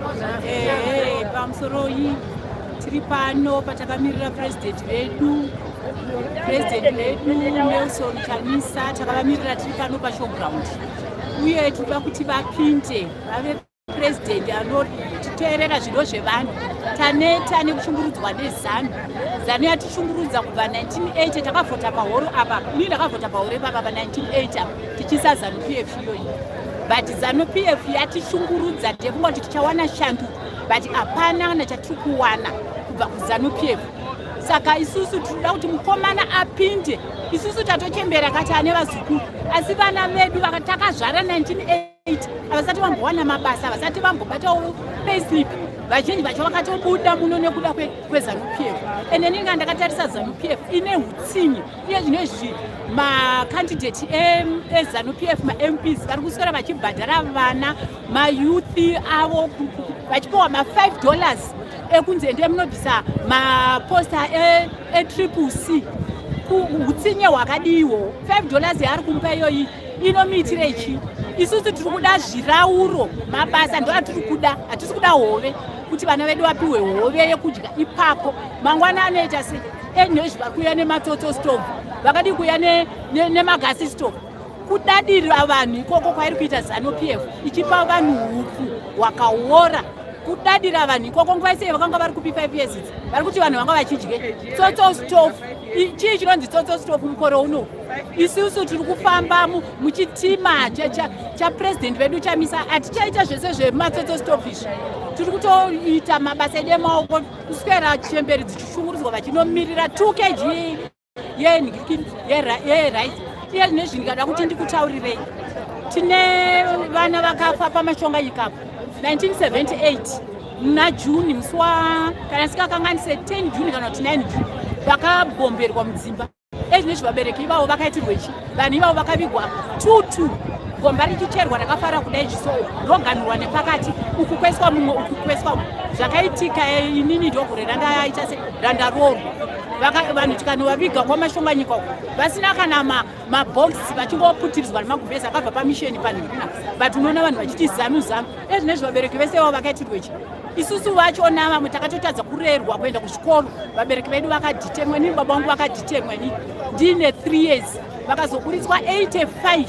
Ehe, pamusoroi tiri pano patakamirira purezidenti vedu purezidenti vedu nelson chamisa takavamirira tiri pano pashowground uye tinoda kuti vapinde vave purezidenti anotiteerera zvido zvevanhu taneta nekushungurudzwa nezanu zanu yatishungurudza kubva 1980 takavhota pahoro apa ini ndakavhota pahoro ipapa pa 1980 tichiisa zanu pf iyoyi but zanu pf yatishungurudza tefunga kuti tichawana shandu but hapana kana chatiri kuwana kubva kuzanu pf saka isusu tinoda kuti mukomana apinde isusu tatochembera kati ane vazukuru asi vana vedu takazvara 19 havasati vambowana mabasa havasati vambobatawo payslip vazhinji vacho vakatobuda muno nekuda kwezanupf and ini nga ndakatarisa zanupf ine utsinye Iye zvino izvi makandidate ezanu p f mamps vari kuswera vachibhadhara vana mayouth avo vachipiwa ma5 dollars ekunzi endei munobvisa maposta etriple e c utsinye hwakadiiwo 5 dollars yaari kumupa iyoyi inomiitire chi isusu tiri kuda zvirauro mabasa ndo atiri kuda hatisi kuda hove kuti vana vedu vapiwe hove yekudya ipapo mangwana anoita sei English vari kuuya nematoto stove vakadii kuuya nemagasi ne, ne stove kudadirira vanhu ikoko kwairi kuita zanu p f ichipa vanhu hupfu hwakaora kudadira vanhu ikoko nguva isei vakanga vari kupi five years idzi vari kuti vanhu vanga vachidye tsotso stof chii chinonzi tsotso stof mukore uno isusu tiri kufamba muchitima chapurezidendi vedu chamisa hatichaita zvese zvematsotso stof izvi tiri kutoita mabasa edu emaoko kuswera chemberi dzichishungurudzwa vachinomirira 2 kg yerice iye zvine zvindikada kuti ndikutaurirei tine vana vakafa pamashonga ikapo 1978 muna juni musi wa kana sikakanganise 10 juni kana kuti 9 juni vakabomberwa mudzimba Age nechi vabereki ivavo vakaitirwe chi vanhu ivavo vakavigwa two two gomba richicherwa rakafara kudai zviso roganhurwa nepakati uku kweswa mumwe uku kweswa zvakaitika eh, inini ndogure randaita se randaroorwa vanhu tikanovaviga kwamashonga nyika uku vasina kana mabhox vachingoputirizwa nemaguvhezi akabva pamisheni panhuna but unoona vanhu vachiti zanu zanu ezvinezvi vabereki vese vavo vakaitirwechi isusu vacho navamwe takatotadza kurerwa kuenda kuchikoro vabereki vedu vakadhitemwa inini baba vangu vakadhitemwa ini ndine three years vakazoburitswa 85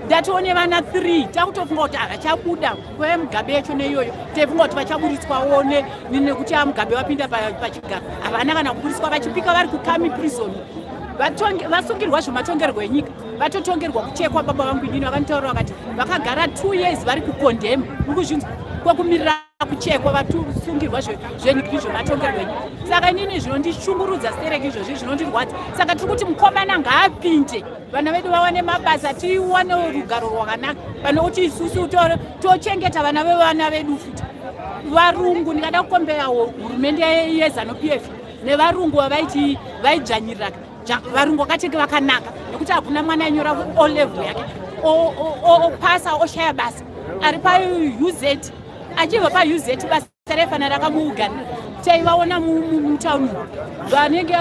ndatione vana three takutofunga kuti havachabuda kweve mugabe yacho neiyoyo taifunga kuti vachaburitswa one nekuti amugabe vapinda pachigaro havana kana kuburitswa vachipika vari kukami prison vasungirwa zvematongerwo enyika vatotongerwa kuchekwa baba vangu inini vakanitaura vakati vakagara two years vari kukondhemu ukuzvinzwa kwekumirira kuchekwa vatusungirwa zvenyika izvo vatongerwenyi saka inini zvinondishungurudza stereki izvozvi zvinondirwadza saka tiri kuti mukomana ngaapinde vana vedu vawane mabasa tiwane rugaro rwakanaka pane kuti isusu tochengeta vana vevana vedu futi varungu ndingada kukombera hurumende yezanupf nevarungu vavaiti vaidzvanyiriraka varungu vakatenge vakanaka nekuti hakuna mwana anyora o level yake opasa oshaya basa ari pauz achibva pauz basa refanira rakamuugana taivaona mutauni vanenge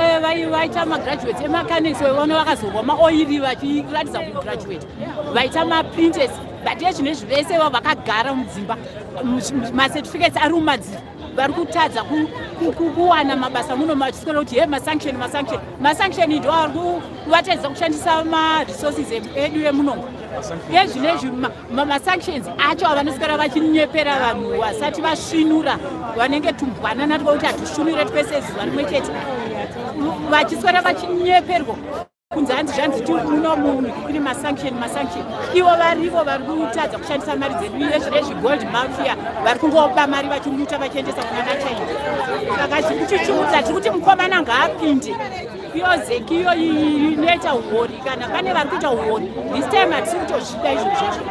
vaita magraduate emacanics vaona vakazorwa maoiri vachiratidza kugraduate vaita maprinters but ezvinezvi vese vavakagara mudzimba macertificates ari mumadziro vari kutadza kuwana mabasa muno machisikora kuti he masanction masanction masanction ndo ari kuvatadzisa kushandisa maresources edu emunomo ezvino ezvi masanctions acho avanosikora vachinyepera vanhu vasati vasvinura vanenge tumbwana natwa kuti hatusvinure twese zuva rimwe chete vachiswera vachinyeperwa kunze hanzi zvanzi ti uno munhu kuri masanction masanction ivo varivo vari kutadza kushandisa mari dzedu rezvegold mafia vari kungopa mari vachimuta vachiendesa kuna vachina saka zviri kutichuudza tiri kuti mukomana ngaapinde yozeki iyo inoita uori kana pane vari kuita uori this time hatisi kutozvida izvo zvazvo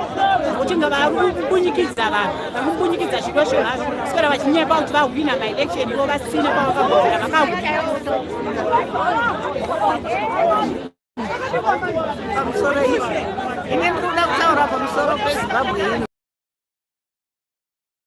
nokuti vari kubunyikidza vanhu vari kubunyikidza zvido zvevazvo sikora vachinyepa kuti vahwina maelection ivo vasina kwavakagogera vakahwina pamusoro iwe ine ndikuda kutaura pamusoro pezimbabwe ino